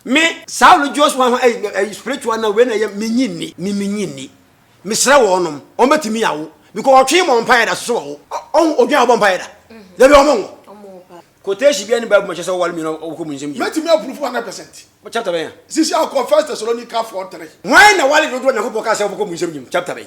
Me Saulo Joshua ho ɛyi ɛyi spiritual na wei na ɛyɛ me nyi ni me me nyi ni mesrɛ wɔn nom wɔn bɛ ti mi awo because ɔtwe mɔ mpa yɛ da soso wɔwo ɔho odwin abɔ mpa yɛ da dabi wɔn mo quotation bi ɛni baabu ma kyɛ sɛ ɔwale mmienu ɔkɔ mu nsɛm yi mɛ ti mi approve hundred percent chapter bɛn ya sisi akɔ first Thessalonica four three wɔn na wale dodo na ko pɔ kaa sɛ ɔkɔ mu nsɛm yi chapter bɛn.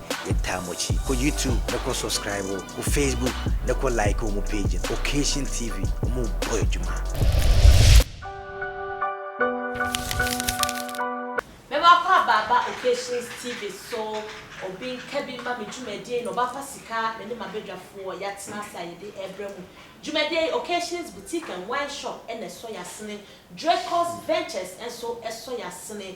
Yɛ taa mo akyi kɔ YouTube ne kɔ subscribe o kɔ Facebook ne kɔ like ɔmo page no Occasion TV ɔmo bɔ adwuma. Mɛma kɔ abaaba Occasions TV so obi nka bi mma me dwumadie yi na ɔbɛafa sika me ne m'abadwafoɔ yɛatena ase a yɛde ɛrebrɛ mo dwumadie yi Occasions Boutique and Wine Shop na ɛsɔ yɛasene Dracos Ventures nso ɛsɔ yɛasene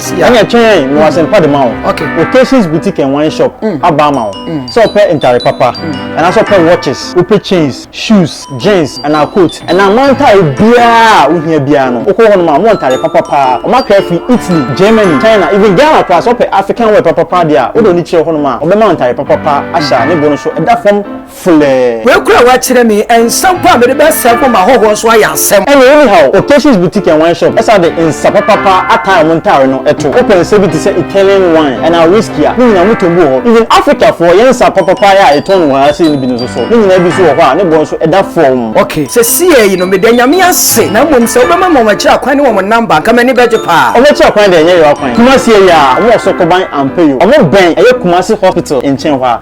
ɛna twɛn mewɔ asɛmpa de ma wo occasions boutique and wine shop mm. aba ama wo mm. sɛ ɔpɛ ntare papa mm. anaasɛ ɔpɛ watches wopɛ chains shoes jeans anaa coat ɛna amantae biara a wohia biara no wokɔ hɔ nom a mowɔ ntare papa paa ɔmakra firi italy germany china even ghana koraa sɛ ɔpɛ african wear papa paa deɛ a wode ɔne kyerɛ hɔ nom a ɔbɛma ntare papa paa ahyɛ a ne bo no so ɛda fam flɛɛ. Wei kura wakyerɛ me nsa mpo a mede bɛ sɛ gu ma hɔhoɔ nso ayɛ asɛm. Ɛna anyhow occasions boutique and wine shop ɛsan de nsa papapa ataa ɔmo ntaare no ɛto wopɛ nsa bi te sɛ Italian wine anaa whisky a ne nyinaa ɔmo tɔn bi wɔ hɔ even Africa foɔ yɛn nsa papapa yɛ a yɛtɔn no wɔ ha sei no bi no nso so ne nyinaa bi nso wɔ hɔ a ne boɔ nso ɛda fɔmm. Ok sɛsiɛ yi no meda Nyame ase na mmom sɛ wobɛma ma wɔn akyiri akwan ne wɔn number nka m'ani bɛgye paa. Ɔmo akyiri akwan deɛ ɛnyɛ Yewa kwan Kumasi ɛyɛ a ɔmo wɔ Sokoban Ampayo ɔmo bɛn ɛyɛ Kumasi hospital nkyɛn hɔ a.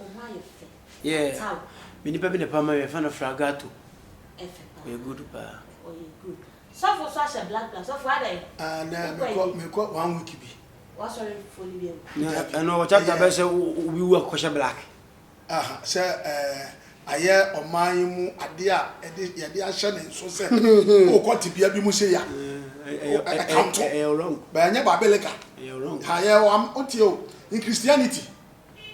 Ɔho ayɛ fɛ. Yeah. Ataw. Me nipa bi na ɛpam ma me, yɛfrɛ no Fragato. Ɛfɛ paa. Ɔyɛ good paa. Ɔyɛ good. Sɔfo nso ahyɛ black black. Sɔfo adɛn? Ah, na mekɔ mekɔ one week bi. Wasɔre fo ni bi awu. Na ɛno wɔ chapter bɛ sɛ obi wu akɔhyɛ black. Aha, sɛ ɛɛ ayɛ ɔman yi mu ade a ɛde yɛde ahyɛ ne nso sɛ wokɔ tebea bi mu sɛ ya. Ɛyɛ wrong. Bɛnyɛ Babeleka. Ɛyɛ wrong. Ha yɛ wɔ am wotie o in Christianity.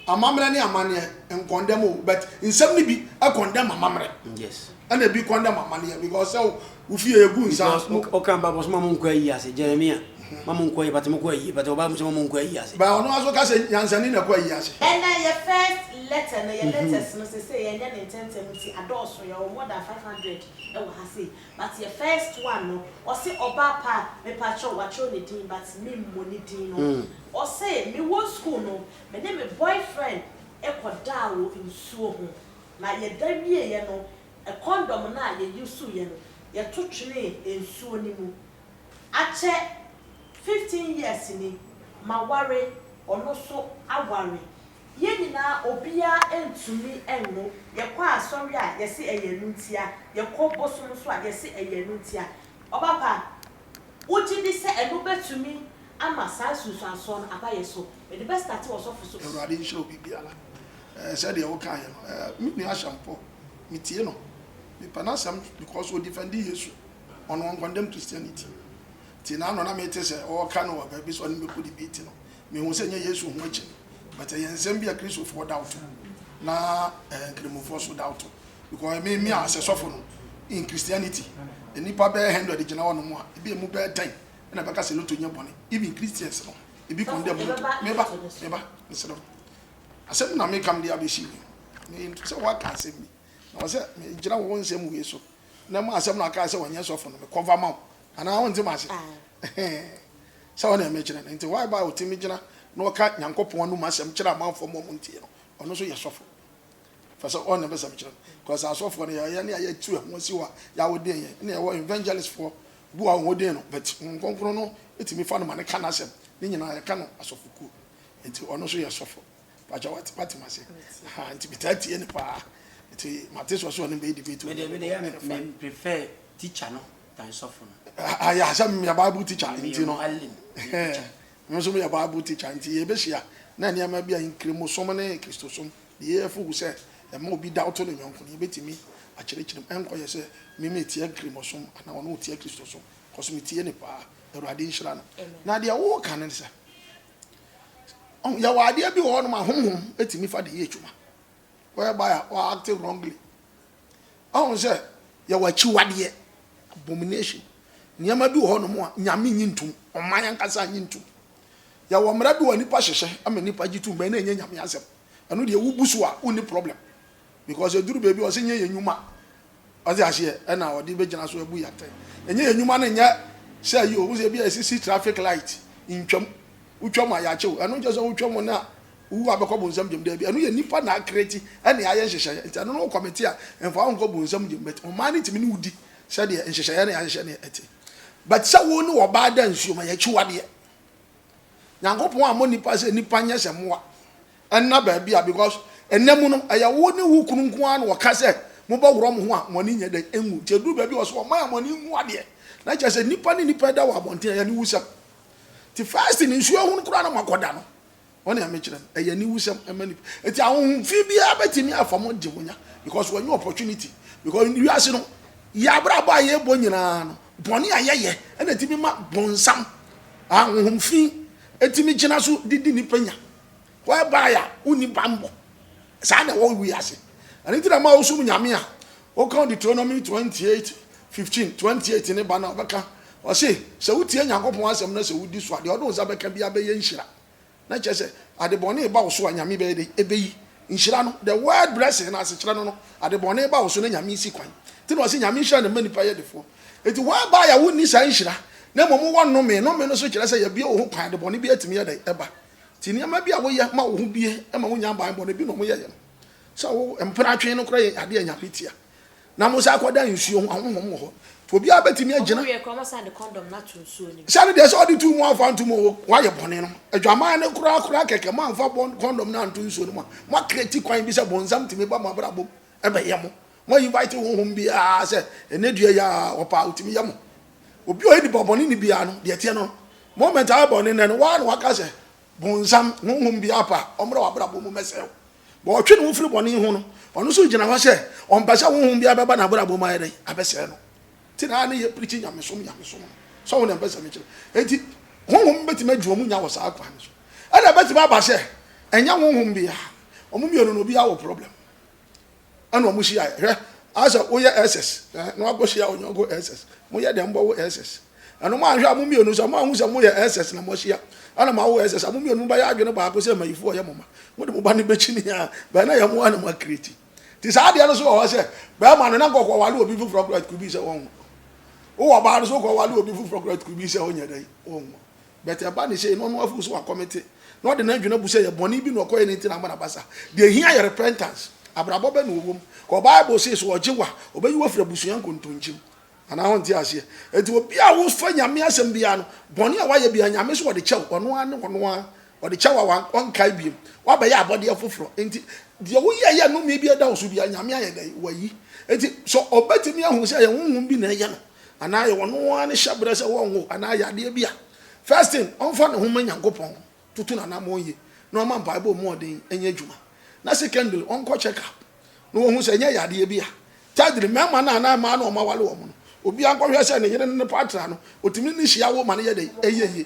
Amammerɛ ne amanneɛ nkɔndɛm o but nsɛm no bi kɔndɛm amammerɛ yes ɛna ebi kɔndɛm amanneɛ because sɛ wo fie egu nsa ɔka mba bɔ so ma mo nkɔ ayi ase Jeremia mm-hmm. ma mo nkɔ ayi bata mo kɔ ayi bata ɔba mo sɛ ma mo nkɔ ayi ase ba ɔno aso ka sɛ nyansani na kɔ ayi ase ɛna yɛ first letter na yɛ mm-hmm. letters no sɛ sɛ yɛnyɛ ne ntɛntɛm nti adɔɔso yɛ wɔ more than 500 ɛwɔ ha sei But yɛ first one no ɔse ɔbaa paa mepakyɛw wakyerɛw ne din but me mmɔ ne din no ɔse me wɔ school no me ne me boyfriend kɔ daa wɔ nsuo ho na yɛ da wieɛ no condom no a yɛ use yɛ no yɛ to twenee nsuo no mu akyɛ fifteen years ni ma ware ɔno so aware Yɛn nyinaa obiara ɛntumi ɛnno, yɛkɔ asɔre a yɛse ɛyɛ ɛno ntia, yɛkɔ bosom nso a yɛse ɛyɛ ɛno ntia. Ɔba pa, wogye di sɛ ɛno bɛtumi ama saa nsunsuansoɔ no aba yɛn so? Mede bɛ starte wɔ sɔfo so. Awurade nhyira obi biara eh sɛdeɛ wo kaeɛ no eh me nua Asampɔɔ me tie no me pɛ n'asɛm because o defendi Yesu ɔno ɔn condemn Christianity nti na ano na me te sɛ ɔɔka no wɔ baabi sɛ ɔne bɛkɔ debate no me hu sɛ nyɛ Yesu ho akyi no but ɛyɛ nsɛm bi a Christofoɔ da ɔto na eh, Nkramofoɔ nso da ɔto because ɛmɛ mi a sɛ sɔfo no in Christianity nnipa bɛyɛ hundred gyina hɔ nom a ebi emu bɛyɛ ten ɛna bɛka sɛ loto nyɛ bɔne even Christians no ebi kɔn dɛ mo loto meba meba mesrɛ mo asɛm na meka mede abɛsi mi me sɛ woaka asɛm bi na wɔ sɛ megyina wo nsɛm wei so na mu asɛm na ɔkae sɛ wɔnyɛ sɔfo no mekɔva ma wo anaa wonte ma ase sɛ ɔne ɛmɛ kyerɛ no nti why ba ɔtumi gyina na ɔka nyankopɔn anum asɛm kyerɛ amanfoɔ ma ɔmo ntie no ɔno nso yɛ sɔfo fa sɛ ɔne bɛsɛm kyerɛ no because asɔfoɔ no yɛyɛ ne ayɛ tu ɛho asi hɔ a yɛawoden yɛn ne ɛwɔ evangelistfoɔ bu a wɔn den no but nkonkron no ɛtumi fa no ma ne ka no asɛm ne nyinaa yɛka no asɔfokuo nti ɔno nso yɛ sɔfo Pacho wate wate mase. Ha nti metaa tie ne paa. Nti mate sɛ ɔsɛ ɔne bɛyɛ debate. Me de me de me me prefer teacher no than sɔfo no. Ah ya sɛ me Bible teacher nti no. Me nso me Bible teacher nti ye behyia na nneɛma bi a nkremo som ne Kristo som de yɛ fugu sɛ ɛma obi da ɔto ne yɔnko no yebetumi akyerɛkyerɛ mu ɛnkɔ yɛ sɛ me me tia nkremo som ana ɔno ɔtia Kristo som cause me tie ne paa Awurade nhyira no na deɛ wo ka ne sɛ Ɔho yɛwɔ adeɛ bi wɔ hɔ nom a homhom ɛtumi fa de yɛ adwuma whereby a wa active wrongly. Ɔho sɛ yɛwɔ akyiwadeɛ abomination nneɛma bi wɔ hɔ nom a Nyame nyi ntom, ɔman ankasa nyi ntom. Yɛwɔ mmara bi wɔ a nipa hyehyɛ ama nipa gye tum bɛn na ɛnyɛ Nyame asɛm. Ɛno deɛ wo bu so a wonni problem. because ɛduru baabi a ɔsɛ nyɛ yɛ nwuma ɔde aseɛ ɛna ɔde bɛgyina so abu yɛ atɛn ɛnyɛ yɛ nwuma no nyɛ sɛ yi ohun sɛ ebi a ɛsisi traffic light ntwam wotwam a yɛakyew ɛno nkyɛ sɛ wotwam no a wowu abɛkɔ bonsam gyem daabi ɛno yɛ nipa na akreti ɛne ayɛ nhyehyɛeɛ nti ɛno no kɔmete a mfa wo nkɔ bonsam gyem but ɔman no tumi ne wodi sɛdeɛ nhyehyɛeɛ ne ahyehyɛ ne ɛte but sɛ wo ne ɔbaa da nsuo ma yɛakyiwadeɛ nyankopɔn ammɔ nipa sɛ nipa nyɛ sɛ mmoa Ɛnna baabi a because ɛnna mu no ɛyɛ wo ne wo kunu nko ara na wɔka sɛ mobɛworɔ mo ho a mo ani nyɛ dɛ nwu nti ɛduru baabi a ɔsɛ wɔma yɛ mo ani nwu adeɛ na kyerɛ sɛ nnipa ne nnipa da wɔ abɔnten ɛyɛ aniwusɛm nti first no nsuo ahunu koraa na mo akɔda no wɔn nea mekyerɛ no ɛyɛ aniwusɛm ɛma nipa nti ahohomfi biara bɛtumi afa mo de mo nya because wɔnyɛ opportunity because wiase no yɛ abrabɔ a yɛbɔ nyinaa no bɔne a yɛyɛ ɛna ɛtumi ma bɔnsam ahohomfi ɛtumi gyina so de di nipa nya whereby a wonni bammɔ. Saa na ɛwɔ wiase. Ɛno nti na ma wosom Nyame a, woka Deuteronomy 28, 15, 28 no ba no a, ɔbɛka, ɔse, sɛ wotie Nyankopɔn asɛm na sɛ wodi so a, deɛ ɔde wo nsa bɛka biara bɛyɛ nhyira. Na kyerɛ sɛ, ade bɔne reba wo so a, Nyame bɛyɛ dɛn? Ɛbɛyi. Nhyira no, the word blessing no asekyerɛ no no, ade bɔne ba wo so na Nyame si kwan. Nti na ɔse Nyame nhyira na ɛma nnipa yɛ defoɔ. Nti whereby a wonni saa nhyira, na mmom wowɔ nnome, nnome no nso kyerɛ sɛ yɛbue wo ho kwan a, ade bɔne biara tumi yɛ dɛn? Ɛba. Nti nneɛma bi a woyɛ ma wo ho bue ma wonya banbɔne bi na ɔmo yɛyɛ no. Sɛ wo mpena twe no koraa yɛ ade a Nyame tia. Na mo san kɔ da nsuo ho, ahonhom wɔ hɔ. Nti obiara bɛtumi agyina. Ɔmo yɛ koraa ɔmo san de kɔndɔm no ato nsuo no mu. Sɛ no deɛ sɛ ɔde to mu amfa anto mu o, wayɛ bɔne no. Adwaman no koraa koraa kɛkɛ, moamfa kɔndɔm no anto nsuo no mu a, mo akreti kwan bi sɛ bonsam tumi ba mo abrabɔ mu Ɛbɛ yɛ mo. Mo invite honhom biaa sɛ ɛnɛ dua yi aa ɔpɛ a ɔtumi yɛ mo. Obi a ɔyɛ nipa bɔne ne biaa no deɛ ɛteɛ no no moment a wabɔ ne nnɛ no waa na waka sɛ bonsam honhom biaa pɛ a ɔmmra wabrabɔ mu mmɛsɛe wo. Bɔ ɔtwe ne ho firi bɔne ho no ɔno nso gyina hɔ sɛ ɔmpɛ sɛ honhom biaa bɛba nabrabɔ mu ayɛ dɛn abɛsɛe no. Nti na ne yɛ preachi nyamesom nyamesom no. Sɛ wo na mpɛ sɛ mekyerɛ. Nti honhom bɛtumi adi ɔmo nya wɔ saa kwan no so. Ɛna ɛbɛtumi aba sɛ ɛnyɛ honhom biaa ɔmo mmienu no obiaa wɔ problem. ɛna wɔn hyia hwɛ asɛ woyɛ ɛsɛs ɛɛ na wakɔ hyia onyɔnko ɛsɛs mo yɛ dɛm bɔ wo ɛsɛs ɛna mo ahwɛ a mo mmienu sɛ mo ahu sɛ mo yɛ ɛsɛs na mo ahyia ɛna mo awo ɛsɛs a mo mmienu mo bɛyɛ adwene baako sɛ mayifo ɔyɛ mo ma mo de mo ba no bɛkyi ne a bɛn na yɛ mo a na mo akireti ti saa adeɛ no so wɔ hɔ sɛ bɛrima no na nkɔkɔ wale obi foforɔ koraa tukubi sɛ wɔn wowɔ ɔbaa no so kɔ wale obi foforɔ koraa tukubi sɛ wɔnyɛ dɛn wɔn But ɛba ne sei na ɔno afeel sɛ wacommite na ɔde n'adwene abu sɛ ɛyɛ bɔne bi na ɔkɔyɛ no nti na ama no aba saa. Deɛ ɛhia yɛ repentance. Abrabɔ bɛ na ɔwɔ mu? Kɔ bible se sɛ ɔgye wo a ɔbɛyi wo afiri abusua nkontonkyim. Anaa wonte aseɛ? Enti obi a wofa Nyame asɛm biara no bɔne a wayɛ biara Nyame se ɔde kyɛ wo ɔno ara ne ɔno ara ɔde kyɛ wo a ɔnkae biom. Woabɛyɛ abɔdeɛ foforɔ enti deɛ woyɛeɛ a nnome biara da wo so biara Nyame ayɛ dɛn? Wayi. Enti sɛ ɔbɛtumi ahu sɛ ɛyɛ honhom bi na ɛyɛ no. Anaa yɛ wɔn ara ne hyɛbrɛ sɛ wɔnwo anaa yɛ adeɛ bi a, first thing, ɔmfa ne ho mma Nyankopɔn, tutu n'anammɔn yie, na ɔmma mpaebɔ mu ɔden nyɛ adwuma. Na secondly, ɔnkɔ check up na wɔhu sɛ ɛnyɛ yadeɛ bi a. Thirdly, mmarima no anaa mmaa no a wɔaware wɔn no, obiara nkɔhwɛ sɛ ne yere ne ne partner no, wɔtumi ne hyia wo ma no yɛ dɛn? Ɛyɛ yie.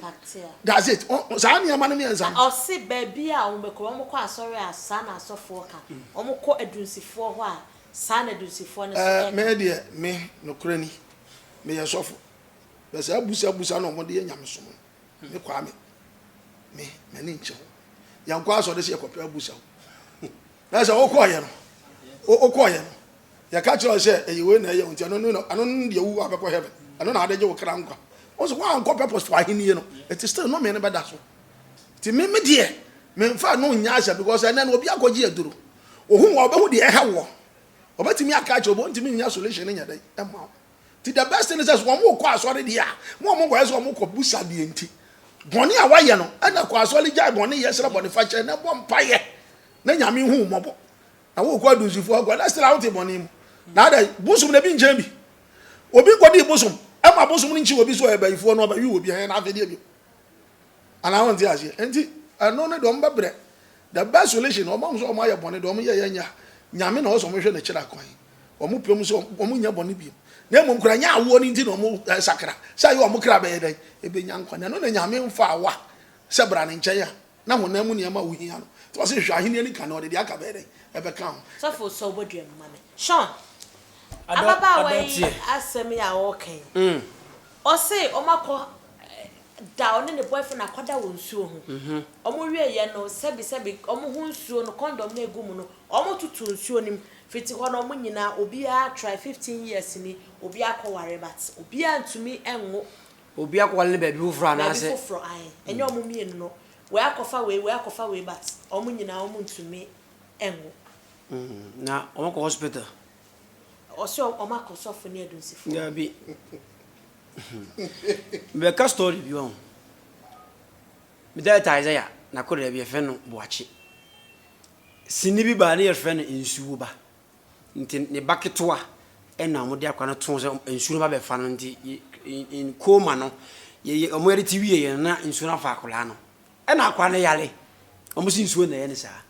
That's it. Saa nneɛma no mmiɛnsa no. Ɔse baabi a wɔbɛkɔ, wɔkɔ asɔre a saa na asɔfoɔ ka, wɔkɔ adunsifoɔ hɔ a Saa na Dusifoɔ no nso ɛka. Ɛɛ, me deɛ, me, nokorɛ ni, meyɛ sɔfo, na saa abusabusa no a wɔde yɛ nyamesom no, me Kwame, me, m'ani nnkye ho. Yɛnkɔ asɔre sɛ yɛkɔpɛ abusa o. Na sɛ wokɔeɛ no, wo, wokɔeɛ no, yɛka kyerɛ wo sɛ ɛyɛ wei na ɛyɛ wo nti, ɛno no, ɛno no deɛ wowu a wobɛkɔ heaven. Ɛno na ade gye wo kra nkwa. Wo nso woankɔpɛ pɔs wɔ ahennie no, ɛti still nomee no bɛda so. Nti me me deɛ me nfa no nyɛ asɛm because ɛnɛ no obi akɔgye aduro ohun wa ɔbɛhu deɛ ɛha wɔ ɔbɛtumi aka akyerɛ obi ntumi nyɛ solution nyɛ dɛ ɛma wo ti the best thing says wɔn mo kɔ asɔre deɛ a mo a mo kɔ yɛ sɛ wɔn mo kɔ busa deɛ nti bɔne a wayɛ no ɛna kɔ asɔre gya bɔne yɛ srɛ bɔne fa kyɛ na bɔ mpa yɛ na nyame hu mɔbɔ na wo kɔ adusifo akɔ na srɛ awote bɔne mu na ada bosom na bi nkyɛn bi obi kɔ di bosom ɛma bosom no nkyi obi so ɛbɛyifoɔ no ɔbɛyi obi ɛyɛ na afɛdeɛ bi. Anaa wonte aseɛ nti ɛno no deɛ ɔmbɛbrɛ the best solution ɔmo ahu sɛ ɔmo ayɛ bɔne deɛ ɔmo yɛyɛ nyɛ a nyame na ɔwɔ sɛ ɔmo hwɛ ne kyerɛ kwan ɔmo pɛ mu sɛ ɔmo nyɛ bɔne biem na mmom kora nyɛ awoɔ no nti na ɔmo sakra sɛ ayɛ ɔmo kra bɛyɛ dɛn ɛbɛnya nkwa na ɛno na nyame mfa awa sɛ bra ne nkyɛn a na honam mu nneɛma a wohia no nti wɔ sɛ hwɛ ahenni no ka na ɔde deɛ aka bɛyɛ dɛn ɛbɛka ho. Sɔfo sɔ wobɔdua mu ma me. Sean, ababaawa yi asɛm yi a ɔreka yi, Ɔse ɔmo akɔ da ɔne ne boyfriend akɔda wɔ nsuo ho ɔmo wieɛ no sɛbi sɛbi ɔmo ho nsuo no condom no egu mu no ɔmo totoo nsuo no mu fiti hɔ no ɔmo nyinaa obiaa try fifteen years ni obiaa akɔ ware but obiaa ntumi nwo Obiaa kɔ ware no baabi foforɔ anaa sɛ. Baabi foforɔ ae ɛnyɛ ɔmo mmienu no wei akɔfa wei wei akɔfa wei but ɔmo nyinaa ɔmo ntumi nwo. Na ɔmo kɔ hospital. Ɔsɛ ɔmo akɔ sɔfo ne adunsifo hɔ. Dabi mebɛka story bi wahu me dɛɛta Isaiah na koraa bi yɛfrɛ no boakye sini bi baa ne yɛfrɛ no nsuo ba nti ne ba ketewa ɛna ɔmo de akora no too sɛ nsuo no ba bɛfa no nti in coma no yɛyɛ ɔmo yɛde te wie yɛn na nsuo no afa akora no ɛna akora no yare ɔmo si nsuo na ɛyɛ ne saa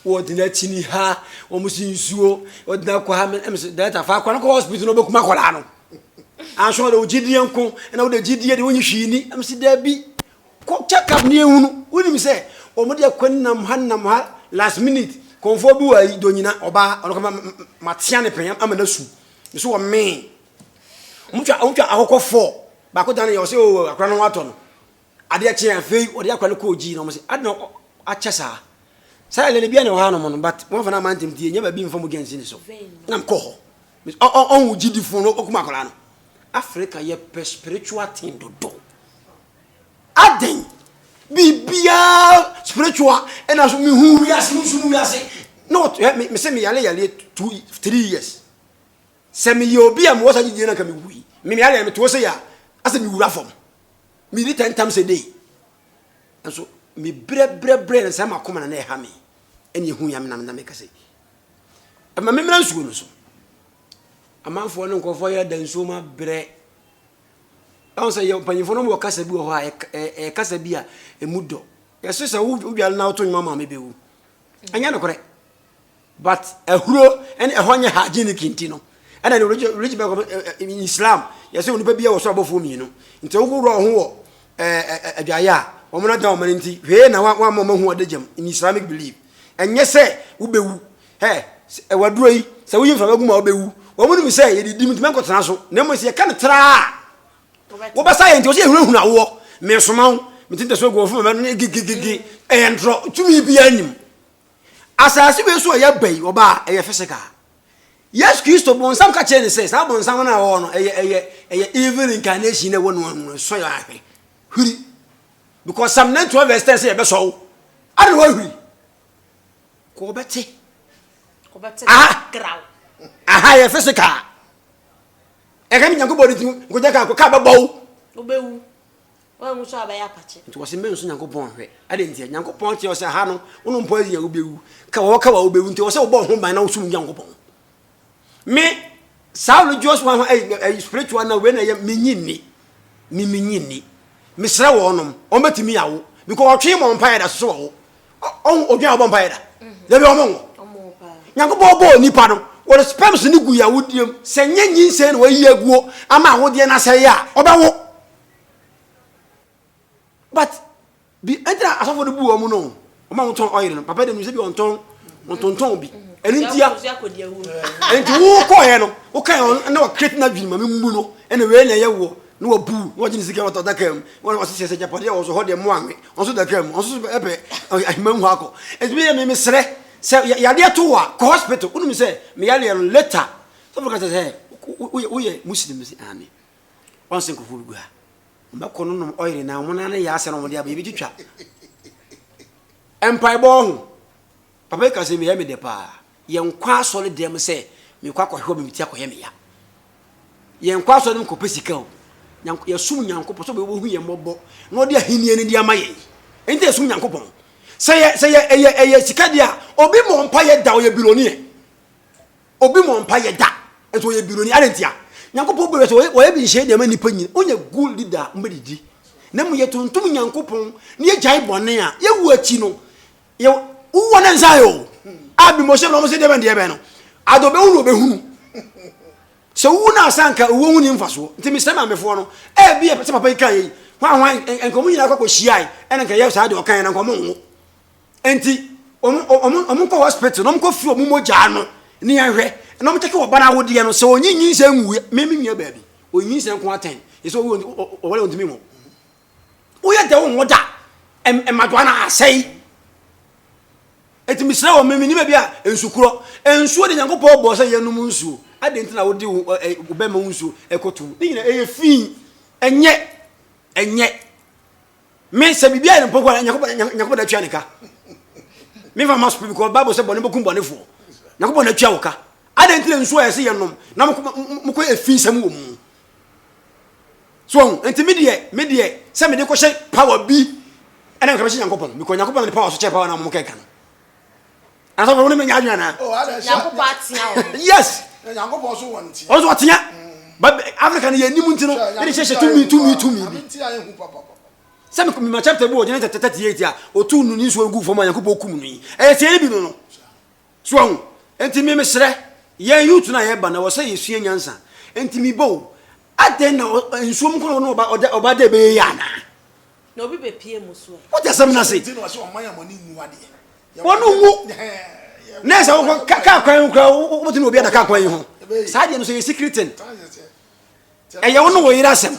wɔde no akyini ha wɔn si nsuo wɔde no akɔ ha ɛmɛ sɛ dɛrɛta fa akɔ no kɔ hospital na ɔbɛkum akɔlaa no anso ɔde ogyidie nko ɛna wode gyidie de wonyi hwii ni ɛmɛ sɛ dɛbi kɔ check up ne ehunu wonim sɛ wɔn de akɔ nam ha nam ha last minute kɔnfoɔ bi wɔ ayi donyina ɔbaa ɔno kama matea ne pɛn ama no su ne so wɔ mee wɔn twa wɔn twa akɔkɔ fɔɔ baako dan yɛ ɔsɛ o akora no ho atɔ no. Adeɛ kyeeɛ afei wɔde akora no kɔɔ gyii na wɔn sɛ adi na akyɛ saa saa yɛ lɛlɛ bi a na ɛwɔ ha nom no but wɔn afa no ama ntɛm tie nyɛ baabi nfa mogya nsi ne so na mkɔ hɔ ɔn wo gyidi fo no okuma akora no Africa yɛ pɛ spiritual thing dodo adɛn biribiara spiritual ɛna so mehu wiase mehu wiase na ɔtɔ me sɛ me yale yale two three years sɛ meyɛ obi a mewɔ saa gyidie no anka mewui me yale yɛ metoɔ sɛ yɛ a asɛ mewura fam Medi ta ntam sɛ dei. Nso mebrɛbrɛbrɛ na sɛ makoma na na ɛha me. Ɛne ɛhu ya menam na meka sɛ, ɛma memmra nsuo no so. Amanfoɔ ne nkurɔfoɔ yɛ da nsuo mu abrɛ. Ɛho sɛ yɛ mpanyinfoɔ no wɔ kasa bi wɔ hɔ a ɛyɛ kasa bi a ɛmu dɔ. Yɛse sɛ wodwale na woto nnwom ama me bɛwu. Ɛnyɛ nokorɛ. But ahuro ɛne ɛhɔ nyɛ hygienic nti no ɛna de rich rich bɛkɔ in Islam yɛsɛ onipa bi wɔ so abɔfoɔ mmienu nti wohohoro wɔn ho wɔ adwaeɛ a wɔn na da wɔn no nti hwee na wɔn ama wɔn ahu ɔda gyam in Islamic belief ɛnyɛ sɛ wobɛwu hɛ ɛwɔ aduro yi sɛ woyi mframa gu mu a wobɛwu wɔn nim sɛ yɛde di mu ntumi nkɔtena so na mmom sɛ yɛka no traa wobɛsa yɛ nti wɔsɛ yɛhunahuna woɔ mesoma wo metintɛ so agu wɔfo mama no ne gigigigi ɛyɛ ntorɔ tumi biara nim Asase wei so a yɛaba yi, ɔbaa, ɛyɛ physical. Yesu Kristo, bonsam ka kyerɛ ne sɛ, saa bonsam no a ɔwɔ no, ɛyɛ, ɛyɛ, ɛyɛ evil incarnation na ɛwɔ no ano, ɛsɔ yɛ ahwɛ. Hwiri. Because Psalm 91 verse 10 sɛ yɛbɛsɔ wo. Ade na wɔahwiri. Kɔ ɔbɛte. Ɔbɛte aha. kraw. Aha yɛ physical. Ɛka mi Nyankopɔn ne ti, nkogya ka, ka bɛbɔ wo. Wobɛwu. Woanwu nso a wobɛyɛ apakye. Nti wɔse mɛnsu Nyankopɔn nhwɛ. Adɛn ntia? Nyankopɔn kyerɛ wo sɛ ha no, wo no mpoasi a wobɛwu. Ka wɔ hɔ ka wɔ a wobɛwu. Nti ɛwɔ sɛ wobɔ wo ho ban na wosom Nyankopɔn. Me, saa religious one ho, ɛyi, ɛyi spiritual na wei na ɛyɛ, menyi nni. Me, menyi nni. Mesrɛ wɔnom, wɔbɛtumi awo. Because ɔtwe mmɔ mpaeɛ da, soso wɔwo. Ɔho, odwan ɔbɔ mpaeɛ da. Mm-hmm. Dabi wɔn wo. Nyankopɔn bɔɔ nipa no, wɔde sperms no gu yɛ awodeɛ mu. Sɛ nyɛ nyinsɛn na wɔayi aguo ama awodeɛ no asɛe a, ɔbɛwo. but bi ɛnti na asɔfo no bu wɔn no wɔn a wɔtɔn ɔyere no papa de mi sɛ bi wɔntɔn wɔntontɔn bi ɛno nti a ɛnti wokɔ yɛ no woka yɛ na wɔkreti na dwene ma mi mu no ɛna wei na ɛyɛ woɔ na wɔbu na wɔgye ne sika wɔtɔ daka mu wɔn wɔsi sɛ sɛ gyapadeɛ wɔn so hɔ deɛ mo anwe wɔn so daka mu wɔn so ɛpɛ ahima mu hɔ akɔ ɛti bi yɛ mi mi srɛ sɛ yadeɛ to wa kɔ hospital wonum sɛ mi yadeɛ no later sɔfo kasa sɛ woyɛ muslim sɛ amen ɔnsen kufuu no gu ha. Wɔbɛkɔ no nom ɔyere na wɔn nan no yɛ asɛ na wɔde aba, yɛbɛtwitwa. Mpaebɔ ho. Papa yi ka sɛ meyɛ me dɛ paa. Yɛnkɔ asɔre dɛm sɛ mekɔ akɔhwɛ ɔbɛ me ti akɔyɛ me ya. Yɛnkɔ asɔre dɛm kɔpɛ sika o. Yɛsom Nyankopɔn sɛ ɔbɛhu yɛn mmɔbɔ na ɔde ahenni no de ama yɛn. Ɛnti yɛsom Nyankopɔn. Sɛ yɛ sɛ yɛ ɛyɛ ɛyɛ sika deɛ a obi mmɔ mpaeɛ da ɔyɛ bilɔneɛ. Obi mɔ mpa yɛ da nso ɔyɛ bironi adɛn ntia nyankopɔn bɔ sɛ wɔyɛ bi nhyɛ deɛma nnipa nyina ɔnyɛ good leader a mbɛdidi na mu yɛ tontom nyankopɔn na yɛ gyae bɔne a yɛ wu akyi no yɛ wowɔ ne nsa yɛ o a bi mɔhyɛ no ɔmo sɛ deɛ bɛn deɛ bɛn no ade ɔbɛhu no ɔbɛhunu sɛ wowu no asa nka owuo ho ni mfasoɔ nti mesrɛ maamefoɔ no ɛbi yɛ sɛ papa yi ka yɛ yi hwan hwan nka ɔmo nyina akɔ akɔ hyiae ɛna nka yɛ saa deɛ ɔka yɛ na nka ɔmo nwo nti wɔn nkɔ hospital na wɔn kɔ firi wɔn mogya no ne yɛhwɛ na wɔn kyɛkɛ ɔba no awodeɛ no sɛ ɔnyi nyinsɛ nwuiɛ mɛmi nua baabi ɔnyi nyinsɛ nko atɛn ɛsɛ ɔwɔ ɔwɔ ɔntumi nwo woyɛ dɛ wo nwo da mmadoa no asɛe ɛti mesrɛ wɔ mɛmi nima bi a nsukorɔ nsuo de nyankopɔn bɔɔ sɛ yɛnom nsuo adɛn nti na wode wobɛma wo nsuo ɛkɔto ne nyina ɛyɛ fii ɛnyɛ ɛnyɛ Me sɛ biribi ayɛ no mpɔnkɔ a Nyankopɔn na atua ne ka. Mefa ma spirit because Bible sɛ bɔne bɛkum bɔnefoɔ. Nyankopɔn na atua wo ka. Adɛn nti na nsuo a yɛse yɛnom na mokɔ efi nsɛm wɔ mu. So ɔho, nti me deɛ, me deɛ, sɛ mede kɔhyɛ power bi ɛna nka bɛhyɛ Nyankopɔn because Nyankopɔn na ne power so kyɛ power na mokɛka no. asɔfo ne menya adwene anaa oh, nyankopɔn atea wɔn yes nyankopɔn so wɔn tea ɔso ɔtea but africa no yɛ anim nti no yɛde hyehyɛ tumi tumi tumi bi sɛ mema chapter bi wɔ gyene tɛtɛtɛtiɛti a ɔtu no ne nsuo gu fam a nyankopɔn kum no yi ɛyɛ tiɛ no bi no no so ahu nti me meserɛ yɛn youth no a yɛba na wɔ sɛ yɛsua nyansa nti mebɔ o adɛn na nsuom kɔ na ɔba dɛ bɛyɛ yɛ anaa Na obi bepue mo so ɛ. Wote asɛm no ase? Wɔn nwu na sɛ wokɔ kaa kwan ho koraa wobɛtumi obi ada kaa kwan yi ho saa deɛ no sɛ yɛ sikiritin ɛyɛ wo ne wo yere asɛm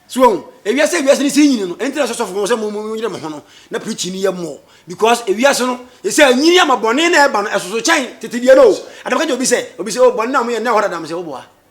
so wɔn ewiase ewiase ne si nyini no ɛnti na sɔsɔfo wɔn sɛ mo mo nyere mo ho no na pirikyi ne yɛ mo because ewiase no ɛsɛ nyini ama bɔne na ɛba no ɛsoso kyɛn tete deɛ no o adamka gye obi sɛ obi sɛ o bɔne na mo yɛ na ɛhɔ dadam sɛ woboa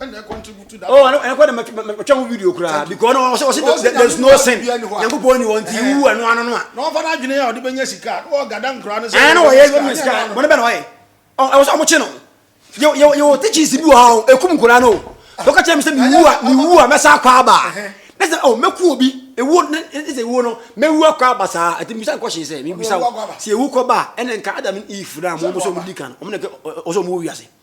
ɛna ɛkɔntributu da. oh ɛna kɔ na matwa ho video koraa because na ɔsɛ ɔsɛ there is no sin nyankopɔn ni wɔn ti wu ɛno ano no a. na ɔfa na adwene a ɔde bɛnya sika na ɔgada nkura no sɛ. ɛna ɔyɛ ɛyɛ mi sika wɔn bɛ na ɔyɛ ɛwɔ sɛ ɔmo kye no yɛ yɛ yɛ wɔ teachings bi wɔ ha o ekum nkura no ɔka kyerɛ mi sɛ mi wu a mi wu a mɛsa akɔ aba ne sɛ ɔ mɛku obi ewu ne ne sɛ ewu no mɛwu akɔ aba saa ɛti mi sa nkɔ hyɛn sɛ mi bu sa sɛ ewu kɔ ba ɛna nka adam ne eve na mo mo sɛ ɔmo di kan ɔmo na ɔsɛ ɔmo wɔ wiase.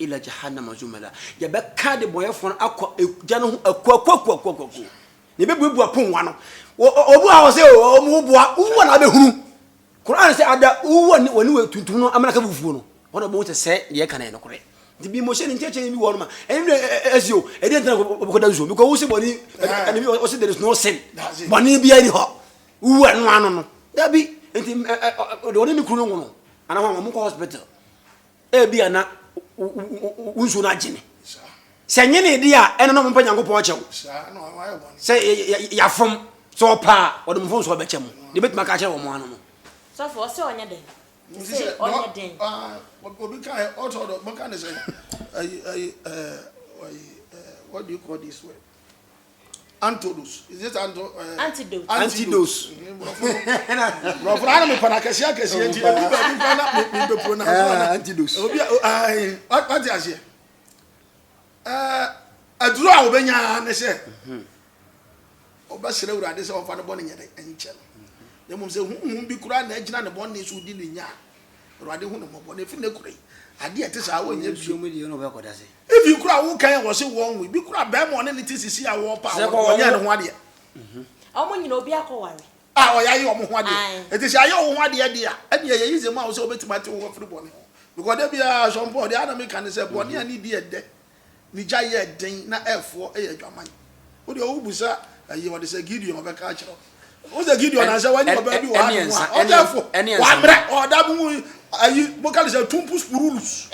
Ila Jahannama zumara, yɛbɛka adebɔnyɛfoɔ no akɔ egya no ho akuakuakuakuakuo, na yɛbɛbuebue apongua no. Obi wɔ ha wɔ sɛ wɔn ho boa, wuwa na abɛhunu. Koran sɛ ada wuwa ne wɔne wɔ tuntum no amena ka bufuo no, wɔn na wɔbɛhu sɛ sɛ deɛ ɛka na yɛ nokorɛ. Nti bi mo hyɛ ne nkyɛkyɛ bi wɔ no ma, ɛnim dɛ ɛsi o, ɛdi ɛntena wɔbɛkɔda nsuo, because wo se bɔne, ɛne bi ɔse there is no sin, bɔne biara ni hɔ, wuwa no ano no, dabi, nti wɔne ne kunu no nwono, anaa wɔn kɔ hospital. Ebia na wo nsuo no agyene. Sɛ nyene di a ɛne na ɔmpa Nyankopɔn akyɛ wo. Sɛ yɛafom sɛ ɔpa a ɔde mfo nso ɔbɛkyɛ mo. Deɛ bɛtumi aka akyerɛ wɔn ano no. Sɔfo ɔsɛ ɔnyɛ dɛn? Ɔsɛ ɔnyɛ dɛn? Obi ka ɛ ɔtɔ dɔ bɛka ne sɛ ɛyi ɛyi ɛɛ what do you call this word? Antodos. Is it anto, uh, eh, antidote? Antidos. Brɔfo na mi pana kɛse akɛse yɛ nti ebi baabi kura na mi mi bɛ pro na so na. Antidos. Obi a ayi wati aseɛ. Ɛɛ aduro a o bɛ nya ne sɛ o bɛ sere wura de sɛ ɔfa ne bɔ ne nyɛ ne nkyɛn. Ne mu sɛ huhun bi kura na egyina ne bɔ ne so di ne nya Awurade hu no mmɔbɔ na efi nnɛ kura yi ade a ɛte saa ɔnyɛ bio. Even kura wo kan a wɔse wɔn nwe bi kura bɛrima ɔne ne te sisi a wɔpa a wɔnyɛ ne ho adeɛ. Wɔn nyina obi akɔ ware. A ɔyɛ ayɛ wɔn ho adeɛ. Eti sɛ ayɛ wɔn ho adeɛ deɛ a ɛne ɛyɛ yize ma wo sɛ wobɛtumi ate wo ho afiri bɔne ho. Because da biara asɔmpɔ deɛ ana meka ne sɛ bɔne a ne di ɛdɛ Ne gya yɛ den na ɛfoɔ yɛ adwaman. Wo deɛ wo bu sa ɛyɛ ɔde sɛ Gideon ɔbɛka akyerɛ wo. Wo sɛ Gideon ansa wanyɛ ɔbaa bi wɔ ha nom a ɔde ɛfo wamrɛ ɔda mu ayi boka ne sɛ tumpu spurulus.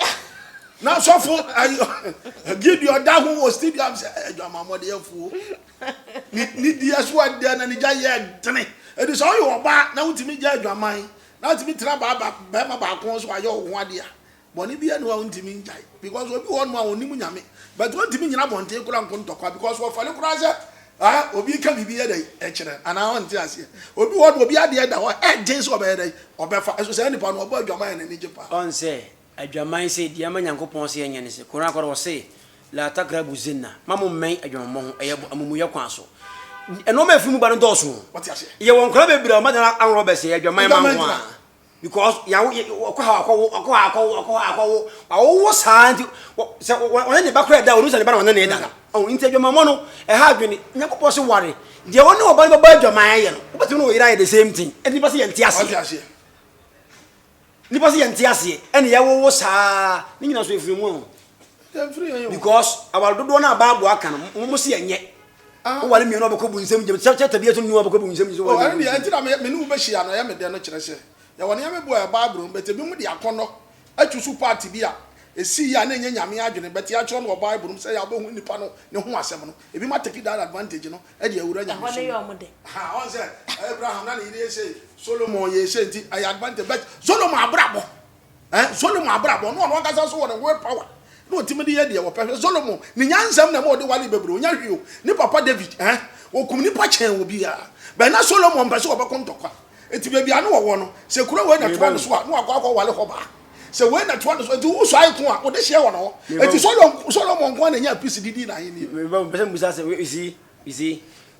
Na sɔfo ayi Gideon da ho wɔ stadium sɛ adwaman mɔde ɛfo. Ni ni di ɛso adɛ na ne gya yɛ dene. Ɛdi sɛ ɔyɛ ɔbaa na wotumi gya adwaman na wotumi tena baa bɛrima baako so ayɛ wo ho adeɛ a Bɔne biara nni hɔ a ontumi ngyae because obi wɔ hɔnom a onnim Nyame but ontumi nnyina abɔnten koraa nko ntɔkwa because wɔfɛre koraa sɛ ah obi reka biribi yɛ dɛn ɛkyerɛ no anaa ɔnte aseɛ. Obi wɔ hɔnom obi adeɛ da hɔ a ɛden sɛ ɔbɛyɛ dɛn ɔbɛfa ɛso saa nipa no ɔbɔ adwaman a n'ani gye paa. Ɔn sɛ adwaman sɛ deɛ ama Nyankopɔn se yɛnyɛ ne sɛ Qur'aan koraa ɔse laa takrabu zinna mma mo mmɛn adwamammɔ ho ɛyɛ bɔ amumuyɛ kwan so nnoɔma a ɛfiri mu ba no dɔɔso o. Yɛwɔ nkwadaa bebree a wɔn adan aworɔ bɛsɛe adwaman ma nko ara. Because yawo yɛ ɔkɔ ha ɔkɔ wo ɔkɔ ha ɔkɔ wo ɔkɔ ha ɔkɔ wo wawo wo saa nti sɛ wɔne ne ba kora da wɔn sɛ ne ba na wɔne ne da no ɔn nti adwamammɔ no ɛha adwene nyankopɔn se ware deɛ wɔne ɔba no bɛbɔ adwaman ayɛ no wobɛtumi ne wo yere ayɛ the same thing ɛne nipa sɛ yɛnte aseɛ nipa sɛ yɛnte aseɛ ɛne yɛwo wo saa ne nyina so ɛfiri mu ho because aware dodoɔ no a bible aka no mo se yɛnyɛ Ah. Wowale mmienu a bɛkɔ bu nsɛm gyam. Sɛ chapter bi ɛso nnu a bɛkɔ bu nsɛm gyam. Oh, ɛno deɛ ɛnti na me ne wo bɛhyia no ɛyɛ me dɛ no kyerɛ sɛ yɛwɔ nneɛma bi wɔ yɛ Bible no mu but ebinom de akɔnnɔ atu so part bi a ɛsii yɛ a na ɛnyɛ Nyame adwene but yɛatwerɛ no wɔ Bible no mu sɛ yɛ a wobɛhu nipa no ne ho asɛm no ebinom atake that advantage no de awura Nyame som mu. Aha, ɔn sɛ Abraham na ne yere yɛ sei, Solomon yɛɛ sei nti ɛyɛ advantage but Solomon abrabɔ. Eh, Solomon abrabɔ, na ɔno ankasa nso wɔ ne will power, na ɔtumi de yɛ deɛ wɔpɛ. Hwɛ Solomon, ne nyansam na ɛma ɔde wale bebree, ɔnya hwee o. Ne papa David, eh, ɔkum nnipa kyɛn obiara. But na Solomon mpɛ sɛ ɔbɛko ntɔkwa. Enti baabi a na ɔwɔ no, sɛ kuro wei na ɛtoa ne so a, na wakɔ akɔwale hɔ baa. Sɛ wei na ɛtoa ne so, enti wo suae ko a, wode hyɛ wɔn hɔ. Enti Solomon, Solomon nko ara na ɛnyaa peace de dii n'ahennie. Me ba, mepɛ sɛ mebusa asɛm. You see, you see,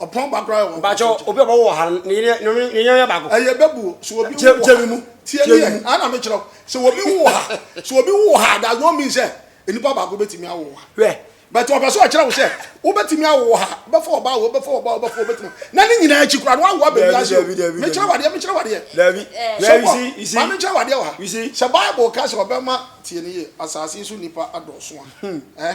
Ɔpɔn ba koraa yɛ wɔn. Bàtchɛ obi a ɔbɛwɔ wɔ ha no ne yere ne ne yere yɛ baako. Ɛyɛ bɛbu o sɛ obi wo wɔ ha tie mi yɛ ana mi kyerɛw sɛ obi wo wɔ ha sɛ obi wo wɔ ha does not mean sɛ nipa baako betumi awo wɔ ha. Hwɛ. But ɔpɛ sɛ ɔkyerɛ wo sɛ wobɛtumi awo wɔ ha bɛfa ɔbaa wo bɛfa ɔbaa wo bɛfa obetumi na ne nyinaa akyi koraa no wawo abɛ wiase o. Me kyerɛ wadeɛ me kyerɛ wadeɛ. Dabi. Hwɛ you see you see. Maame kyerɛ wadeɛ wɔ ha. You see. Sɛ bible ka sɛ ɔbɛma tie ne yɛ asaase so nipa adɔɔso a. Hmm. Eh.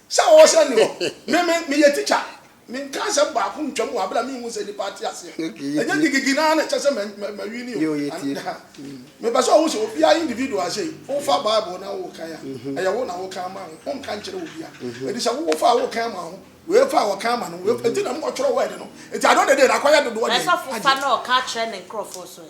Sɛ ɔwɔ sɛ ɛnni hɔ. Me, me, meyɛ tikya. Menka asɛm baako ntwam wɔ bere a minhu sɛ nnipa ate aseɛ. Ɛnyɛ gigigi no ara na ɛkyerɛ sɛ ma, ma, mawi ni o. Ana, mepɛ sɛ ɔhu sɛ obiara individual sei, wofa Bible na worekan a, ɛyɛ wo na woka ama ho. Wonka nkyerɛ obiara. Enti sɛ wowɔ fa a worekan ama ho, wei fa a wɔka ama no, wei fa, enti na motwerɛ word no. Enti at the end of the day no, akɔyɛ dodoɔ deɛn? Ɛsɔfo fa na ɔka kyerɛ ne nkurɔfoɔ nso ɛ?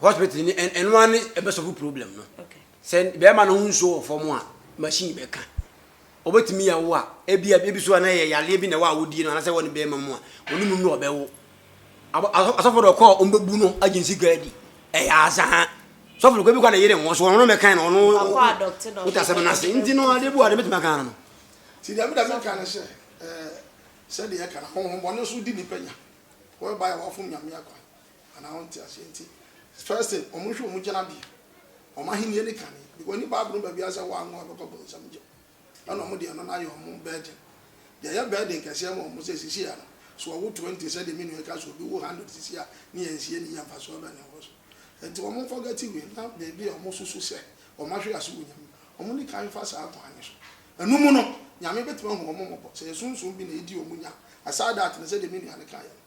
Hospital ni ɛno ara ne ɛbɛsɔfo problem no. Sɛ bɛrima no ho nsuo wɔ fam a, machine bɛka. Ɔbɛtumi awo a, ebi a ebi so a na ɛyɛ yareɛ bi na ɛwɔ awodie no anaasɛ ɛwɔ ne bɛrima mu a, ɔne mu no ɔbɛwo. Asɔfo deɛ ɔkɔ a ɔmbɛbu no agye ne sika adi. Ɛyɛ azaa. Sɔfo no kɔ ebi kɔ a ne yere nwo so, ɔno no mɛkan no, ɔno wote asɛm no ase. Nti no adeɛ bi wɔ a deɛ mɛtumi aka ara no. Nti deɛ meda meka ne sɛ, sɛdeɛ yɛka no, ahonhommɔne nso di nnipa nya, whereby wɔafom Nyame akwan. anaa ɔnte aseɛ nti first thing wɔn nhwɛ wɔn gyinabea wɔn ahennie ne kane because ne bible no baabiara sɛ wɔanwo a ɛbɛkɔ bonsam nkyɛn ɛna wɔn deɛ ɛno no ayɛ wɔn burden deɛ ɛyɛ burden kɛseɛ ma wɔn sɛ sisi ano so wɔwo twenty sɛdeɛ me nua ɛka so obi wo hundred sisi a ne yɛn nsie ne yɛ mfasoɔ bɛn na ɛwɔ so nti wɔn forget wei na baabi a wɔn susu sɛ wɔn ahwe ase wɔ nyame wɔn ne kan fa saa kwan ne so ɛno mu no nyame bɛtumi ahu wɔn mmɔbɔ sɛ yɛ sunsun bi na ɛdi wɔn nya aside that no sɛdeɛ me nua no kaeɛ no.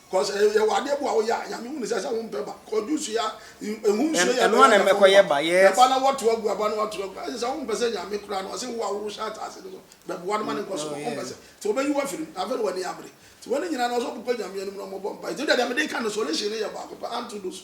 Cos ɛyɛ yɛwɔ adeɛ bi a woyɛ a Nyame hu ne sɛ sɛ wo mpɛ ba Cos juice ya ehu nsuo yɛ ɛno a na ɛbɛkɔ wo ba ɛbɛkɔyɛ ba ɛba na wato agu ɛba na wato agu ɛsɛ sɛ wo mpɛ sɛ Nyame koraa no ɔse wo a wo hyɛ ataase no so bɛboa no ma ne nkɔ so no wo mpɛ sɛ nti ɔbɛyi wo afiri mu na afei na w'ani abere nti wei ne nyinaa no ɔsɛ ɔkokɔ Nyame anim na ɔmɔbɔ mpae nti wodeɛ deɛ mede ka no solution no yɛ baako pɛ anto do so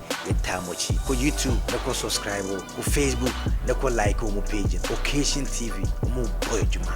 Me taa mo akyi kɔ YouTube ne kɔ subscribe o, kɔ Facebook ne kɔ like ɔmo page no, Occasion TV, ɔmo bɔ adwuma.